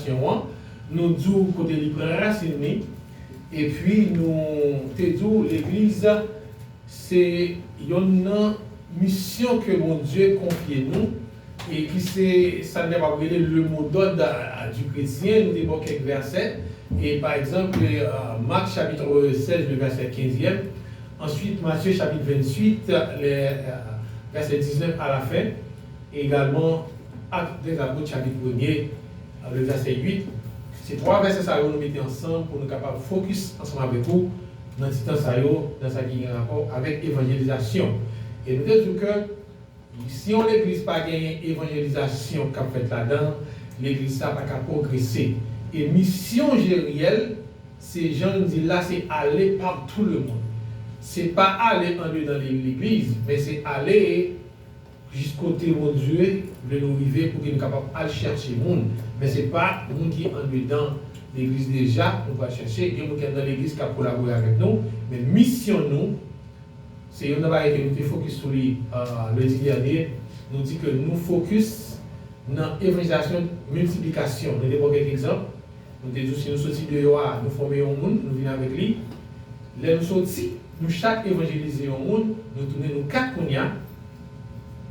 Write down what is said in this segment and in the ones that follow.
Nasyon an, nou di w kote li pran rasin li, epi nou te di w legliz se yonn nan misyon ke Bondye konfye nou, e ki se sa n kapab rele le mo dòd di kretyen, nou te ba w kèk vèsè, e pa egzanp, Mak chapit 16 le vèsè kenzyèm, answit Matye chapit 28 le vèsè diznèf alafen. Egalman, Ak de Apot chapit premye a le vèsè 8, se twa vèsè sa yo nou mete ansanm pou nou kapab fokis ansanm avèk ou nan ti tan sa yo nan sa ki gen rapò avèk evanjelizasyon. E nou te di w ke si yon legliz pa genyen evanjelizasyon k ap fèt ladan l, legliz sa pa ka pwogrese. E misyon Jeryèl, se jan l di l la, se ale partout le monde. Se pa ale andedan legliz, men se ale. Jis kote Bondye vle nou rive pouki n kapab al chèche moun. Men se pa moun ki andedan legliz deja nou pral chèche. Gen moun ki anndan legliz k ap kolabore avèk nou. Men misyon nou, se youn nan bagay ke nou te fokis sou li lendi dènye, nou di ke nou fokis nan evanjelizasyon, miltiplikasyon. Nou te pran kèk egzanp. Nou te di w si nou soti deyò a, nou fòme yon moun, nou vin avèk li. Lè nou soti, nou chak evanjelize yon moun, nou tounen nou kat kounya.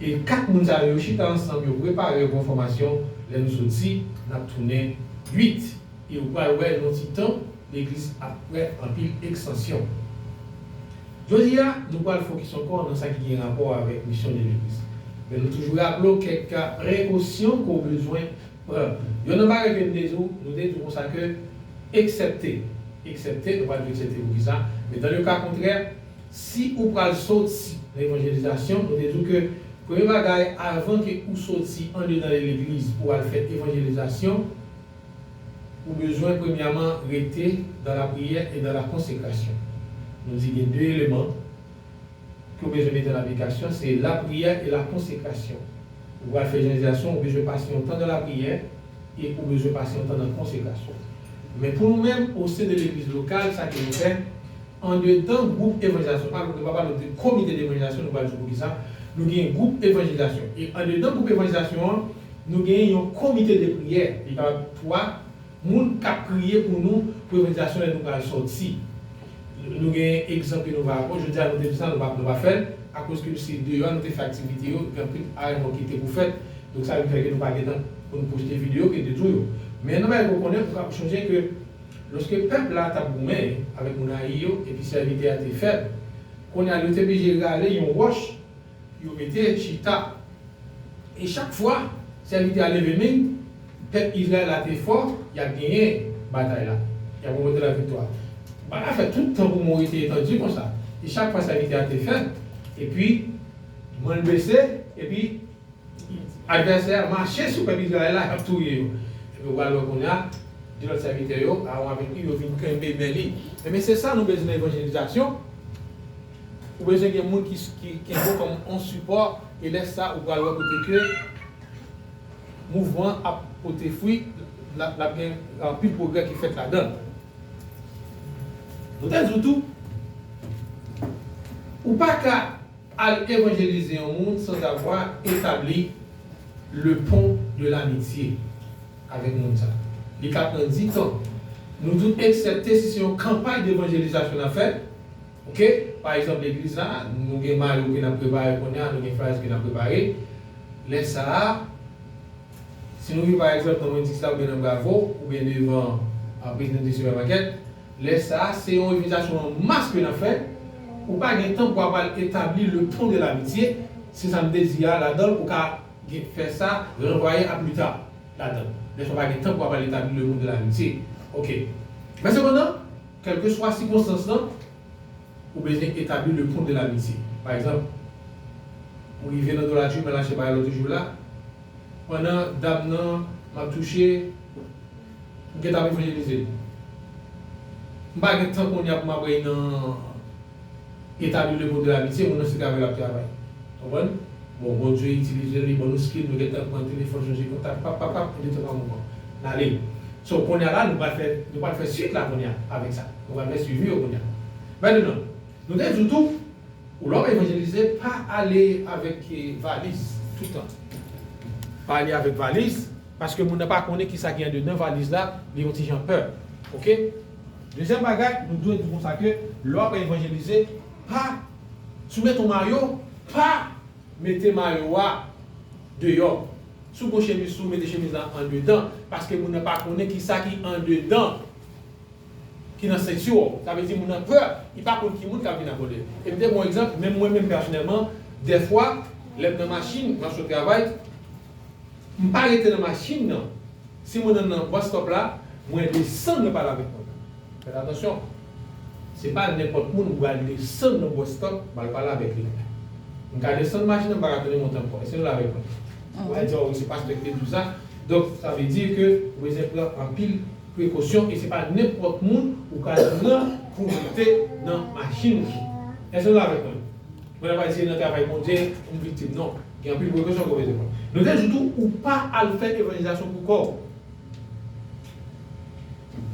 E 4 moun sa yo, yo chita ansanm, yo prepare bon fòmasyon, lè nou soti, nap tounen 8. E ou pral wè nan ti tan, legliz ap prè anpil eksansyon. Jodi a, nou pral fokis ankò nan sa ki gen rapò avèk misyon de legliz. Men nou toujou raple w kèk prekosyon ke w bezwen pran. Yonn nan bagay ke nou te di w, nou te di w konsa ke, eksèpte, eksèpte, nou pral di w eksèpte poukisa, men dan le ka kontrè, Si ou pral soti nan evanjelizasyon, nou te di w ke premye bagay avan ke ou soti andedan yon legliz pou w al fè evanjelizasyon, ou bezwen premyaman rete dan lapriyè e dan lakonsekrasyon. Nou di gen de eleman ke w bezwen mete an aplikasyon, se lapriyè e lakonsekrasyon. Ou pral fè ejanlizasyon, ou bezwen pase yon tan dan lapriyè e ou bezwen pase yon tan dan konsekrasyon. Men pou nou menm, osen de legliz lokal, sa ke nou fè, Andedan gwoup evanjilizasyon, pa nou pa pale de komite devanjilizasyon, nou pral di poukisa, nou gen gwoup evanjilizasyon. E andedan gwoup evanjilizasyon an, nou gen yon komite de priyè, li kapab 3 moun k ap priye pou nou pou evanjilizasyon lè nou pral sòti. Nou gen egzanp ke nou va aprann, jodi a nou te di sa, nou pa fè l, akoz ke se deyò nou te fè aktivite yo, gen anpil aranjman ki te pou fèt, donk sa vin fè ke nou pa gen tan pou nou pwojte videyo ke te di w yo. Men nan bagay ke w konnen, ou ka ap chonje ke Lòske pèp la t ap goumen avèk moun Ayi yo epi sèvitè a te fèb, kounye a yo te blije rale yon wòch yo mete chita. E chak fwa sèvitè a leve min, pèp Izrayèl la te fò, y ap genyen batay la, y ap ranpote laviktwa. Ba la fè tout tan pou Moyiz te etandu konsa, e chak fwa sèvitè a te fèb, epi min l bese, epi. Advèsè a mache sou pèp Izrayèl la, ap touye yo. Epi ou pral wè kounye a, de lòt sèvitè yo, Aawon avèk Ur, vin kenbe men li. Ebyen, se sa nou bezwen nan evanjelizasyon. Ou bezwen gen moun ki kenbe w kòm yon sipò, e lè sa a, ou pral wè kote ke mouvman an ap pote fwi, l ap gen anpil pwogrè ki fèt ladan l. Nou te di w tou, ou pa ka. Al evanjelize yon moun sanzavwa etabli le pon de lamitye avèk moun sa. Li ka pran ditan. Nou tout eksepte si se yon kanpay devanjelizasyon n ap fè. Ok? Pa egzanp legliz la, nou gen mayo ke n ap prepare kounye a, nou gen flyers ke n ap prepare. Lè sa a, si nou rive pa egzanp nan Wendy's la oubyen nan Bravo oubyen devan Presidente Supermarket, Lè sa a, se yon evanjelizasyon an mas ke n ap fè. Ou pa gen tan pou apral etabli le pon de lamitye, se sa m te di a ladan l, ou ka gen fè sa, ranvwaye a pli ta ladan l. Lè sa a ou pa gen tan pou apral etabli le pon de lamitye. Ok. Men sepandan, kèlkeswa sikonstans lan, ou bezwen etabli le pon de lamitye. Pa egzanp, m rive nan Dollartree, m al achte bagay lòt jou la, pandan dam nan m ap touche, M gentan ap evanjelize l. M pa gen tan kounye a pou m ap rèy nan etabli le modèl amitye, moun nan se travay l ap travay. W konprann? Bon, Bondye itilize l, li ban nou skil, nou gentan pran telefòn, chanje kontak, pap, pap, pap, nou gentan pran moman. N ale. So, kounye a la, nou pral fè, nou pral fè suit la kounye a, avèk sa. Nou pral fè suivi yo kounye a. Mètenan, nou te di w tou, ou lè w ap evanjelize, pa ale avèk valiz, tout tan. Pa ale avèk valiz. Paske moun nan pa konnen kisa gen andedan valiz la li yon ti jan pè ok. Dezyèm bagay nou dwe di konsa ke lè w apral evanjelize pa si w mete yon mayo pa mete mayo a deyò si w gen yon chemiz sou mete chemiz la andedan paske moun nan pa konnen kisa ki andedan ki nan senti w sa vle di moun nan pè li pa konn ki moun kap vin abòde l e m te ban w egzanp menm mwen menm pèsonèlman dèfwa lè m nan machin map sot travay. M pa rete nan machin nan. Si mwen nan nan bus stop la, mwen desann mwen pale avèk moun nan. Fèt atansyon. Se pa nenpòt moun m pral desann nan bus stop m al pale avèk li. M ka desann machin nan m pa ka tounen monte ankò. Èske nou la avèk mwen? Ou al di, oh wi se pastè ki te di w sa. Donk sa vle di ke ou bezwen pran anpil prekosyon e se pa nenpòt moun ou ka pran pou w monte nan machin nan. Èske nou la avèk mwen? Mwen ap aji nan travay Bondye pou m viktim non. Gen anpil prekosyon ke w bezwen pran. Nou te di tou ou pa al fè evanjelizasyon pou kò w.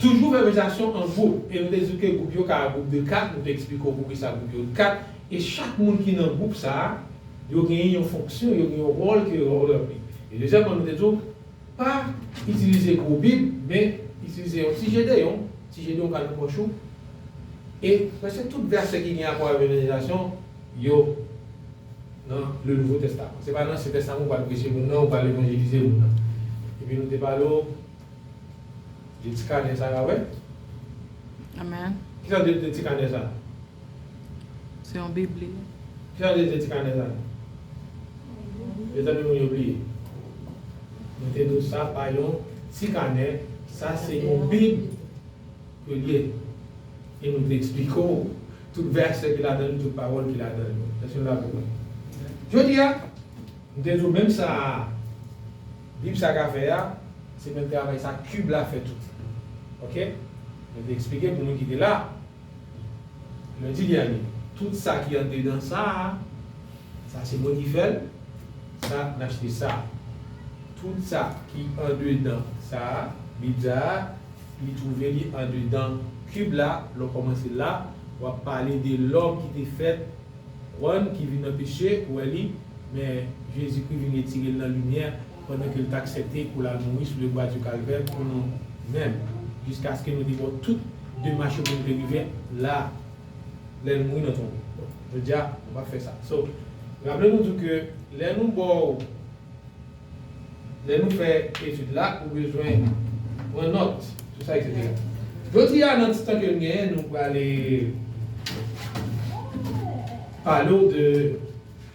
Toujou fè evanjelizasyon an gwoup. E nou te di w ke gwoup yo ka gwoup de 4, nou te eksplike w poukisa gwoup yo de 4. E chak moun ki nan gwoup sa a, yo genyen yon fonksyon, yo gen yon wòl ke yo ranpli. E dezyèmman nou te di w. Pa itilize gwo bib, men, itilize yon ti Jedeyon, ti Jedeyon ka nan pòch ou, e prèske tout vèsè ki gen rapò avèk evanjelizasyon, yo nan Le Nouveau Testament. Se pa nan Ansyen Testaman ou pral preche moun nan, ou pral evanjelize moun nan. Epi nou te pale w de ti kanè sa a, wè? Amen. Kisa nou te di de ti kanè sa a? Se yon bibli. Ki jan li rele ti kanè sa? Mezanmi moun yo bliye. Nou te nou sa pa yon ti kanè, sa se yon bib ke li ye. E nou te eksplike w tout vèsè ki ladan li, tout pawòl ki ladan li. Èske nou dakò konsa? Jodi a, nou te di w menm sa bib sa ka fè a, se menm travay sa kib la fè tou. Ok? Nou te eksplike pou moun ki te la. Mwen di byen wi, tout sa ki andedan sa a, sa se mwen ki fè l, sa n ap site sa a. Tout sa ki andedan sa a, Bib sa a, li twouve li andedan kib la, lè w kòmanse la, w ap pale de lòm ki te fèt, konprann, ki vin nan peche, ou wè li, men Jezikri vin retire l nan limyè, pandan ke l t aksepte pou l al mouri sou le bwa di kalvè pou nou menm, jiskaske nou te bo tout demach yo pou nou te rive la a, lè l mouri nan tonbo. Bon, jodi a, nou pa p fè sa. So, la vle nou di w ke lè nou bo w, lè nou fè etid la, ou bezwen pran nòt sou sa, eksetera. Jodi a, nan ti tan ke n genyen, nou prale pale w de.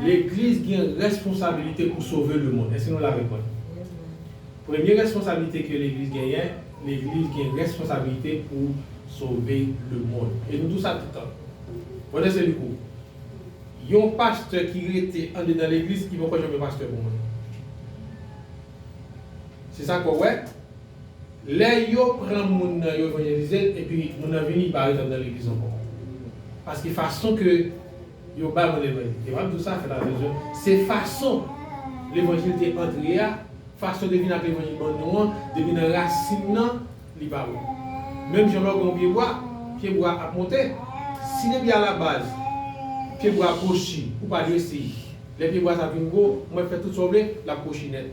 Legliz gen responsabilite pou sove lemonn. Èske nou la avèk mwen? Premye responsabilite ke legliz genyen, legliz gen responsabilite pou sove lemonn. E nou dou sa tout tan. Bon èske li pou yon pastè ki rete andedan legliz ki poko janm yon pastè pou mwen? Se sa ke w wè? Lè yo pran moun nan yo evanjelize l epi moun nan vini li pa ret andan legliz ankò. Paske fason ke yo bay moun levanjil e map di w sa fèt atansyon se fason levanjil te antre a fason yo te vin ak levanjil ban nou an depi nan rasin nan li pa bon. Menm jan lè w gen yon pye bwa pye bwa a ap monte si depi a la baz pye bwa a kwochi ou pa dwe eseye lè pye bwa sa vin gwo ou mèt fè tout sa w vle lap kwochi nèt.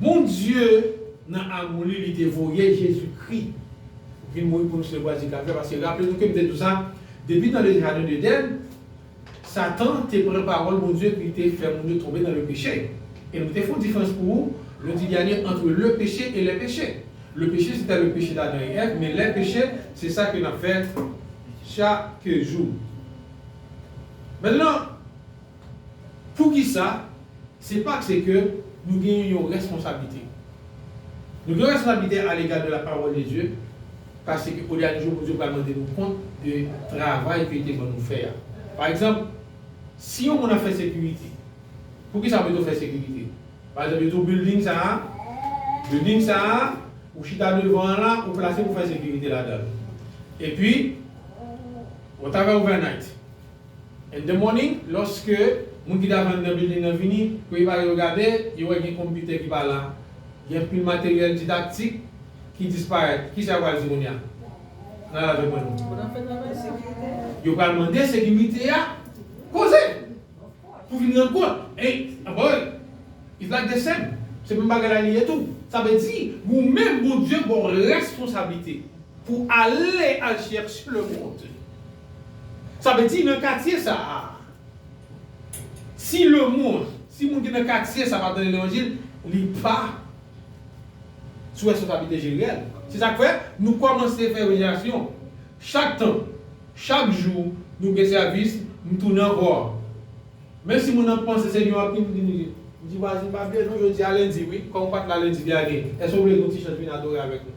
Bondye nan amou li li te voye Jezi Kri vin mouri pou nou se lwa di Kalvè paske raple nou kem te di w sa depi nan le jaden Deden satan te pran pawòl Bondye epi li te fè moun yo tonbe nan le peche e nou te fon diferans pou ou nou di dènye antre le peche e lè peche le peche se ta le peche d'Adan e Èv men lè peche se sa ke nap fè chake jou. Mèt lan. Poukisa? Se pase ke nou genyen yon responsablite. Nou gen responsablite alega de la pawòl de Dye, pase ke o dènye jou Bondye pral mande nou kont de travay ke li te ban nou fè a. Pa egzanp, si yon moun ap fè sekirite, poukisa pito fè sekirite? Pa egzanp, yo di w bilding sa a, bilding sa a, ou chita devan an la, ou plase pou fè sekirite ladan l. Epi, whatever overnight. In the morning, lòske moun ki ta vann nan bilding nan vini, premye bagay yo gade, yo wè gen konpitè ki pa la, gen anpil materyèl didaktik ki disparèt. Kisa yo pral di kounye a? Nan al avèk mwen non. Moun ap fè travay sa. Yo pral mande sekirite a koze pou vin rann kont. Ey, anpawèl, it's like the same. Se menm bagay la li ye tou. Sa vle di, ou menm Bondye ba w responsablite pou ale al chèche le monde. Sa vle di nan katye sa a, si lemonn, si moun ki nan katye sa a pa tande levanjil, li pa sou responsablite Jeriel. Se sa k fè nou kòmanse fè evanjelizasyon. Chak tan, chak jou nou gen sèvis, m tounen ankò. Menm si moun nan panse se Noah Queen vin ri, m di vwazin pa byen non jodi a lendi wi, kòm ou pat la lendi dènye, èske ou vle nou ti chans vin adore avèk nou?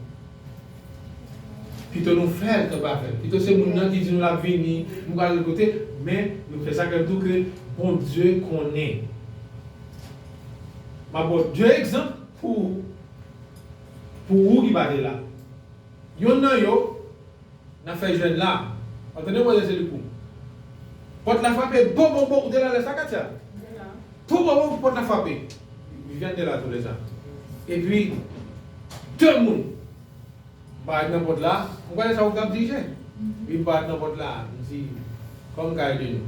Pito nou fè l ke pa fè l. Pito se moun nan ki di nou lap vini, m pral al kote, men nou fè sa klè pou tou ke Bondye konnen. Map ba w 2 egzanp pou pou ou ki pa te la. Yonn nan yo, n ap fè jwenn la. Antonio Moisés Elicourt Pòt la frape bobobo ou te la lè sa Katia? M te la. Bobobo pòt la frape Viviane te la tou lè sa epi 2 moun parèt nan pòt la m kwè lè sa ou t ap dije epi m parèt nan pòt la m di kòm kay de nou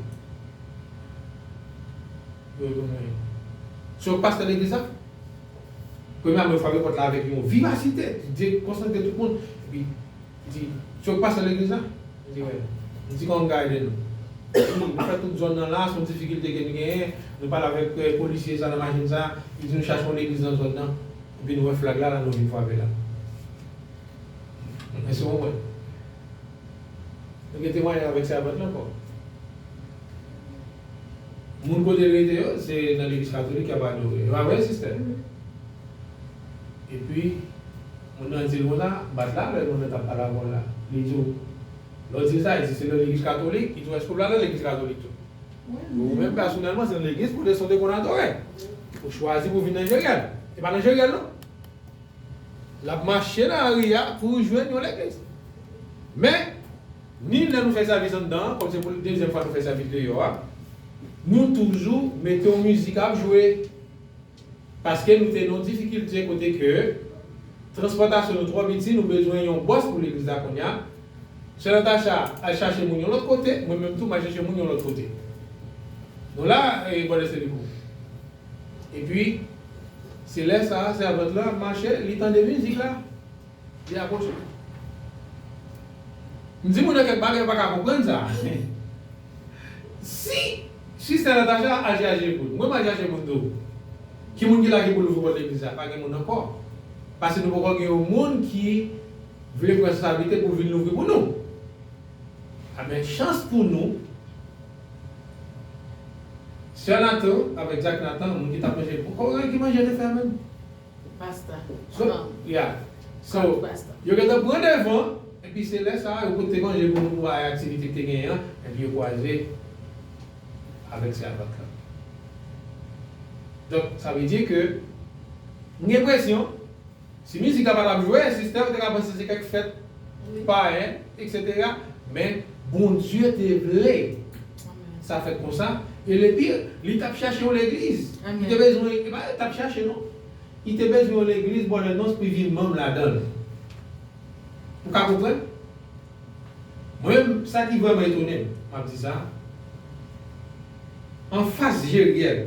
yo retounen se yo k pastè legliz la? Premye ame yo frape pòt la avèk yon vivasite ki dekonsantre tout moun, epi li di, Se ou ki pastè legliz la? Li di, Wi. Li di, Kòman m ka ede nou? Li di, Nou fè tout zòn nan la, se yon difikilte ke nou genyen, nou pale avèk polisye sa nan machin sa, li di nou chache yon legliz nan zòn nan, epi nou wè flag la la nou vin frape la. Èske ou konprann? Nou gen temwayaj avèk sèvant lan ankò. Moun kote rete yo se nan legliz katolik yap adore yo pa vre sister epi moun nan dil konsa bat la lè moun nan tap pale avèw la li diw lèw dil sa li di se nan legliz katolik li diw eske ou pral nan legliz katolik tou ou menm pèsonèlman se nan legliz kote saw te konn adore ou chwazi pou vin nan jeryèl se pa nan jeryèl non lap mache nan lari a pou jwenn yon legliz men. Ni lè nou fè sèvis anndan an, kòm se pou dezyèm fwa nou fè sèvis deyò a, nou toujou mete yon mizik ap jwe. Paske nou te nan yon difikilte kote ke transpòtasyon nou twò piti, nou bezwen yon bòs pou legliz la kounye a. Sè Natacha al chache moun yon lòt kote, mwen menm tou m al chache moun yon lòt kote. Nou la e bò Lèseliko. Epi, se lè sa a, sèvant lan ap mache, li tande mizik la. Li ap pwoche. M di moun yo kèk bagay yo pa ka konprann sa. Si Sista Natacha aji aji epoul m. Mwen m aji aji epoul m tou. Ki moun ki la ki pou louvri pòt legliz la? Pa gen moun ankò. Pase nou poko gen yon moun ki vle pran responsablite pou vin louvri pou nou. A men chans pou nou, Sè Nathan avèk Jack Nathan, moun ki t ap manje, m poko wè ki manje yo te fè a menm. Pasta. So, yeah. So, yo gentan pran devan, epi se lè sa a yo pote manje pou nou pou a aktivite ki te genyen an, epi yo kwaze avèk sèvant lan. Donk, sa vle di ke m gen enpresyon, si mizik la pa t ap jwe, sista yo te ka panse se kèk fèt payen, eksetera, men Bondye te vle Sa fèt konsa, e le pire, li tap chache yon legliz. Li te bezwen, e pa li tap chache non. Li te bezwen yon legliz bò lè nonse pou li vin manm ladan l. Ou ka konprann? Mwen menm, sa ki vrèman etone m, map di sa, anfas Jeriel,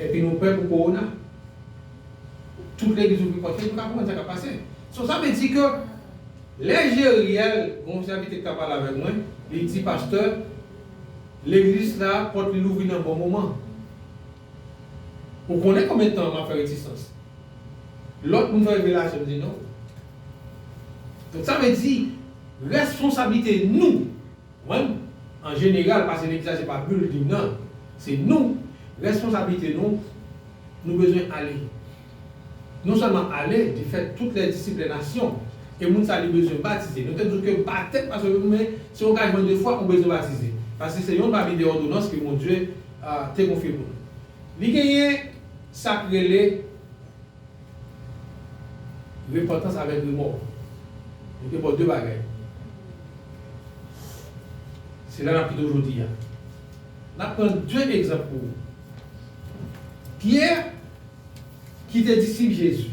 Epi nou pè pou corona. Tout legliz ouvri pòt yo nou ka konprann sa kap pase. So sa vle di ke lè Jeriel gon sèvitè ki ta pale avèk mwen li di pastè legliz la pòt li louvri nan bon moman. Ou konnen konbyen tan map fè retisans. Lòt moun fè revelasyon m di non. Donk sa vle di responsablite nou. Mwen, an jeneral, pase m egzaje pa building nan, se nou, responsablite nou, nou bezwen ale. Non sèlman ale, di fè tout lè disip lè nasyon, e moun sa li bezwen batize. Nou te di w ke batèm pa sove moun, men se yon gajman de fwa ou bezwen batize, paske se yon pami de òdonans ke Bondye te konfye pou nou. Li genyen sa k rele. Repantans avèk remò yo te bon de bagay. Se la n ap kite w jodi a. N ap pran de egzanp pou ou. Pyè, ki te disip Jezi.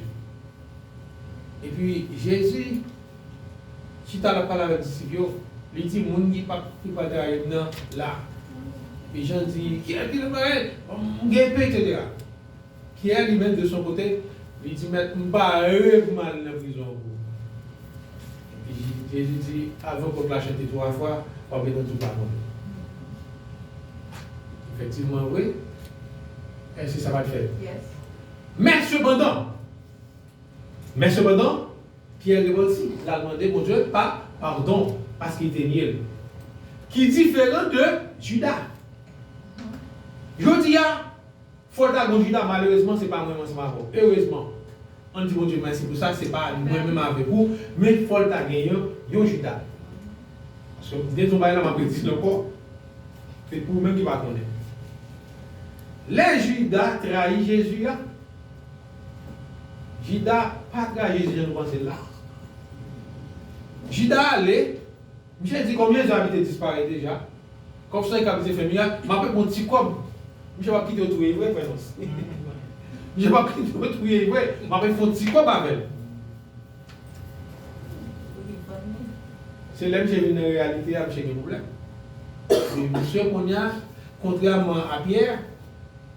Epi, Jezi chita l ap pale avèk disip yo, li di, Moun ki pa ki pral trayi m nan la. Epi, Jan di, Gen anpil moun bagay, m gen pen, eksetera. Pyè li menm de son kote, li di, Mèt, m pa reve m al nan prizon ankò. Epi, Jezi di, Avan kòk la chante twa fwa, w ap reponn tou padon. Efektivman vre, èske sa pa t fèt? Men sepandan, men sepandan, Pyè repanti, l al mande Bondye pa, padon, paske li te nye l. Ki diferan de Jida. Jodi a, Fo ta gon Juda malerezman se pa mwen menm ansanm avè w erezman ann di Bondye mèsi pou sa se pa mwen menm avèk ou men fò l ta gen yon yon Juda paske m gen yon bagay la m ap redi l ankò se pou ou menm ki pa konnen lè Juda trayi Jezi a Juda pa trayi Jezi jan nou panse l la Juda ale. Misye di konbyen zan li te disparèt deja kòb sony kap ese fè mirak map repon ti kòb misye pap kite yo touyel vre frè nos misye pap kite yo touyel vre map ret fon ti kòb avèl se lè misye vin nan reyalite a misye gen problèm misye kounya kontrèman a Pierre.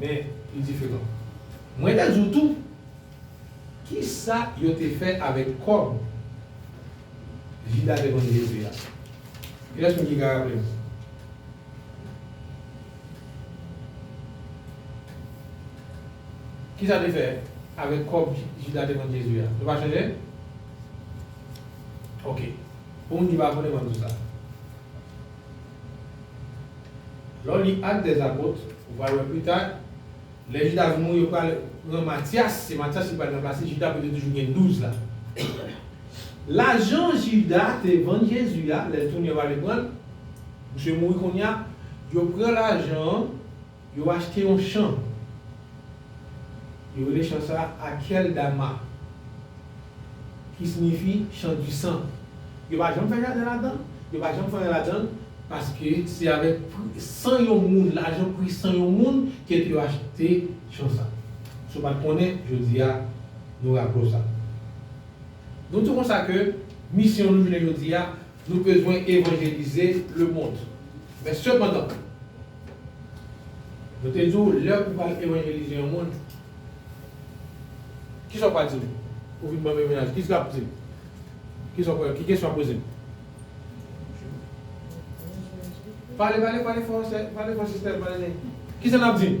Men, li diferan. Mwen te di w tou, ki sa yo te fè avèk kòb Jida te vann Jezi a? Kilès moun ki ka raple m? Ki sa yo te fè avèk kòb Jida te vann Jezi a? Nou pa sonje? Ok. Pou moun ki pa konnen, m ap di w sa. Lè w li Actes des Apôtres, ou pral wè pita, lè Jida vin mouri, yo pral pran Matyas, se Matyas ki pral ranplase Jida pou yo te toujou gen douz la. Lajan Jida te vann Jezi a, lè l tounen yo ale pran l, misye mouri kounye a, yo pran lajan an, Yo achte yon chan. Yo rele chan sa a Akhel Dama, ki sinyifi chan di san. Yo pa janm fè jaden ladan l, yo pa janm fè anyen ladan l, paske se avèk pri san yon moun, lajan pri san yon moun, ke yo achte chan sa. Si w pa t konnen, jodi a, nou raple w sa. Nou di w konsa ke misyon nou jounen jodi a, Nou bezwen evanjelize lemond. Men sepandan, yo te di w lè ou pral evanjelize yon moun, ki sa ou pral di l? Ou vin ban m yon mesaj, ki sa l ap di m? Ki sa ou pral, ki kesyon w ap poze m? Pale, pale, pale fò, pale fò sista yo, pale nèt. Ki sa n ap di m?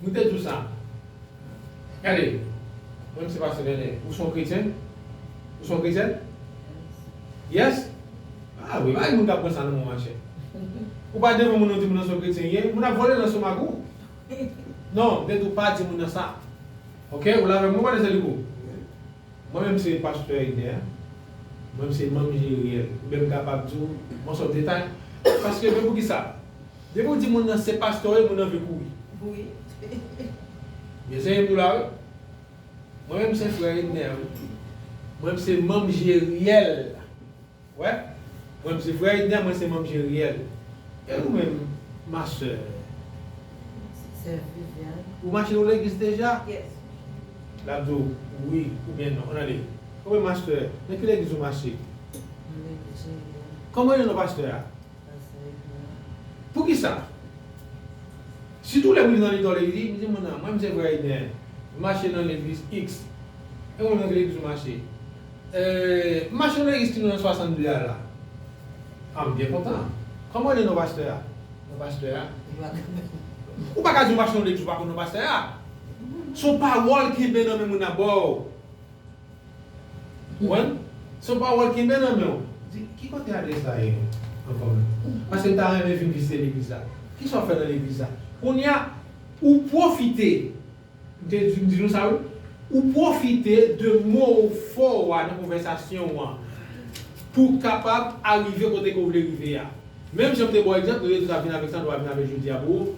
Nou te diw sa. Gade. Mwen m se pastè Nènè. Ou son kretyen? Ou son kretyèn? Yes? Ah wi, pa gen moun kap pran sa nan menw machè. Ou pa devan moun nan ou di moun nan son kretyen ye, moun ap vole nan stomak ou. Non, m te diw pa di moun nan sa. Ok, ou la avèm wi Vanessa Lico? Mwen menm se pastè Eber. Mwen m se manm Jeriel. Oubyen m kapab diw, m an sòt detay. Paske, men poukisa. Depi ou di moun nan se pastè w ye moun nan vle kouri. Wi. Gen zen pou la wi. Mwen menm se frè Edner wi. Mwen menm se manm Jeriel. Wè. Mwen menm se frè Edner mwen se manm Jeriel. E ou menm ma sè? Mwen se sè Viviane. Ou mache ou legliz deja? Yes. Lap di w wi oubyen non. An ale. Ou menm ma sè? Nan ki legliz ou mache? Nan legliz Jeriel. Kòman rele non pastè a? Poukisa? Sitou lè mrive nan mitan legliz, m di moun nan, mwen m se frè Eden, m mache nan legliz iks. E ou menm nan ki legliz ou mache? M mache nan legliz ki nan 62 a la. A m byen kontan. Kòman rele non pastè a? Non pastè a? Ou pa ka di ou mache nan yon legliz ou pa konn non pastè a. S on pawòl kenbe nan men moun nan ba w. Konprann? Son pawòl kenbe nan menw. Di, ki kote adrès la ye ankò menm? Paske m ta renmen vin vizite legliz la. Kisa w fè nan legliz la? Kounye a, ou pwofite, m te di, m di nou sa wi, ou pwofite de mo fò ou a nan konvèsasyon ou an pou w kapab arive kote ke w vle rive a. Menm jan m te ba w egzanp, nou detou ta vin avèk sa, nou va vin avèk jodi a pou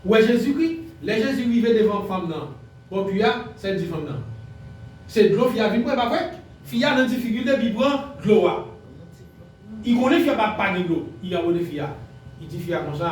ou wè Jezikri. Lè Jezi rive devan fanm nan, Bon pu a sel di fanm nan. Se dlo fi a vin bwe pa vwe. Fi a nan difikilte pi pran dlo a. I konnen fi a pa gen dlo. I abone fi a. I di fi a konsa.